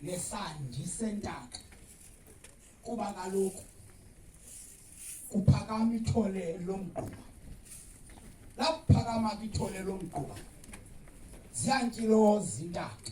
lesandi sentaka kuba kaloku kuphakama ithole lomgquba lakuphakama ke ithole lomgquba ziyantyilo zintaka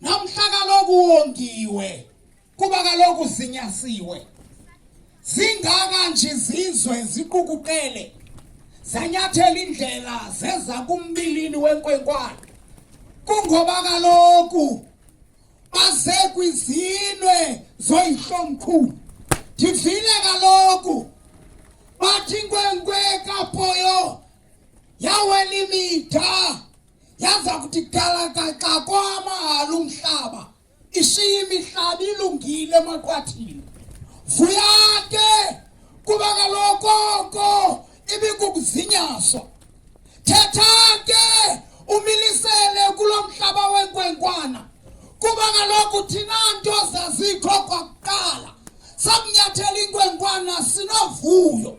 namhla kaloku wongiwe kuba kaloku zinyasiwe zingaka nje izizwe ziqukuqele zanyathela indlela zeza kumbilini wenkwenkwana kungoba kaloku baze kwizinwe zoyihlomkhulu ndivile kaloku bathi inkwenkwe kapoyo yawela imida yaza kuthi galakaxa kwamahhala umhlaba ishiye imihlaba ilungile emaqwathini vuya ke kuba kaloku oko ibikukuzinyaswa thetha ke umilisele kulo mhlaba wenkwenkwana kuba kaloku thina nto zazikho kwakuqala sakunyathela inkwenkwana sinovuyo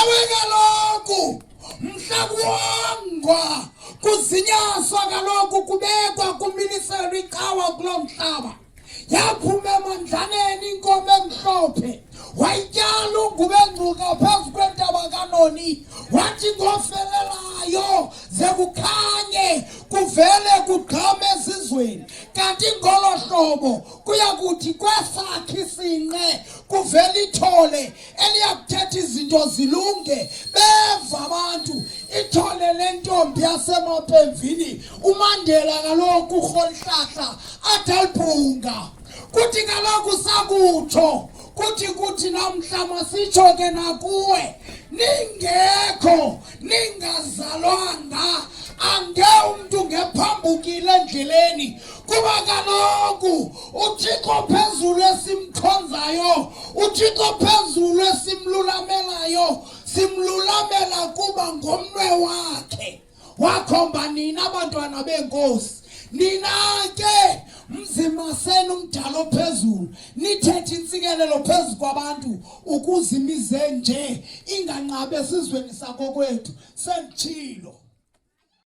Ewe kaloku mhla kuwongwa kuzinyaswa kaloku kubekwa kumiliselo icawa kuloo mhlaba yaphuma emandlaneni inkomo emhlophe wayityala ungube ngcuka phezu kwentaba kanoni wathi ngofelelayo ze kukhanye kuvele kugqame ezizweni kanti ngolo hlobo kuya kuthi kwesakhe isinqe kuvele ithole eliyakuthetha izinto zilunge beva abantu ithole lentombi yasemapemvini umandela kaloku urholihlahla athi alibhunga kuthi kaloku sakutsho kuthi kuthi namhla masitsho ke nakuwe ningekho ningazalwanga ange umntu ngephambukile endleleni kuba kaloku uthixo phezulu esimkhonzayo uthixo phezulu esimlulamelayo simlulamela kuba ngomnwe wakhe wakhomba nina abantwana beenkosi nina ke mzimaseni umdala ophezulu nithethe intsikelelo phezu kwabantu ukuze imize nje inganqabi esizweni sakokwethu senditshilo